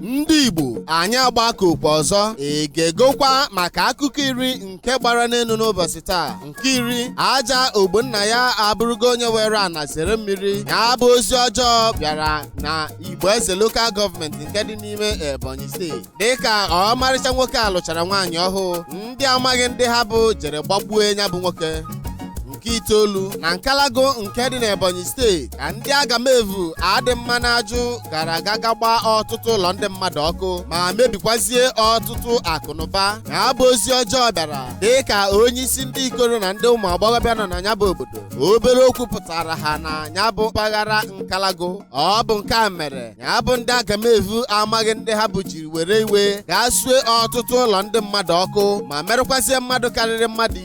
ndị igbo anyị agbakọkwa ọzọ egegokwa maka akụkọ iri nke gbara n'elu n'ụbọchị taa nke iri aja ogbonnaya abụrụgo onye were ana zere mmiri ya bụ ozi ọjọọ bịara na igbo eze lokal gọọmenti nke dị n'ime ebonyi steeti dịka ọmarịcha nwoke a lụchara nwaanyị ọhụụ ndị amaghị ndị ha bụ jere gbagbue ya bụ nwoke nke itoolu na nkalagụ nke dị n'ebonyi steeti ka ndị agamevu adị mma n'ajụ gara aga gaa gbaa ọtụtụ ụlọ ndị mmadụ ọkụ ma mebikwazie ọtụtụ akụnụba ya bụ ozi ọjọọ bịara dị ka onye isi ndị ikoro na ndị ụmụ agbọghọbịa nọ na ya bụ obodo obere okwu pụtara ha na ya bụ mpaghara nkalagụ ọ bụ nke a mere ya bụ ndị agamevu amaghị ndị ha bụ jiri were iwe gaa sue ọtụtụ ụlọ ndị mmadụ ọkụ ma merụkwazie mmadụ karịrị mmadụ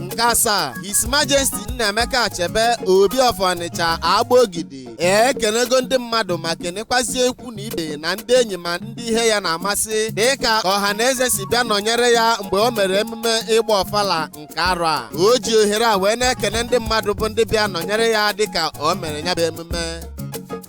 nke asaa His Majesty Nnaemeka Achebe Obi of Ọnịcha Agbogidi ekenego ndị mmadụ ma kenekwazie ikwu na ibe na ndị enyi ma ndị ihe ya na-amasị dịka ọha na eze si bịa nọnyere ya mgbe o mere emume ịgba ọfala nke arọ a o ji ohere a wee na-ekene ndị mmadụ bụ ndị bịa nọnyere ya dịka o mere ya bụ emume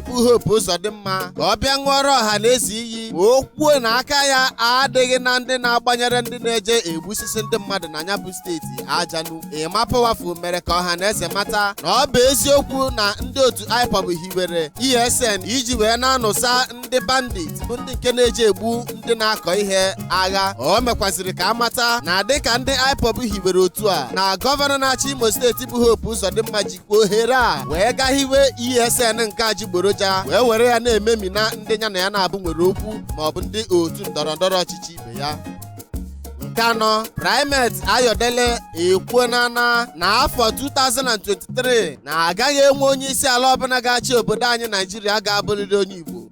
bụ Hope Uzodimma ka ọ bịa ṅụọrọ ọha na eze iyi ma o kwuo na aka ya adịghị na ndị na-agbanyere ndị na-eje egbusisi ndị mmadụ na ya bụ steeti ajanu Emma Powerful mere ka ọha na eze mata na ọ bụ eziokwu na ndị otu IPOB hiwere ESN iji wee na-anụsa ndị bandit bụ ndị nke na-eje egbu ndị na-akọ ihe agha o mekwaziri ka a mata na dịka ndị IPOB hiwere otu a na gọvanọ na-achị Imo steeti bụ Hope Uzodimma ji ohere a wee gaa hiwe ESN nke ajịgboroja wee were ya na-ememina ndị ya na ya na-abụ nwere okwu ma ọ bụ ndị otu ndọrọ ndọrọ ọchịchị ibe ya nke anọ Primate Ayọdele ekwuona na na afọ 2023 na agaghị enwe onye isi ala ọbụla ga-achị obodo anyị Naijiria ga-abụrịrị onye Igbo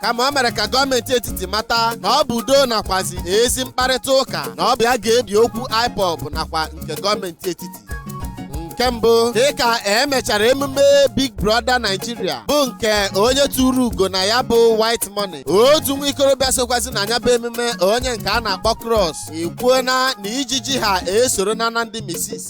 kama o mere ka gọọmenti etiti mata na ọ bụ udo nakwazi ezi mkparịta ụka na ọ bụ ya ga-ebi okwu IPOB nakwa nke gọọmenti etiti nke mbụ dịka e mechara emume Big Brother Nigeria bụ nke onye turu ugo na ya bụ White Money otu nwa ikorobịa sokwazi na ya bụ emume onye nke a na-akpọ Cross ekwuona na ijiji ha esoro na na ndị misis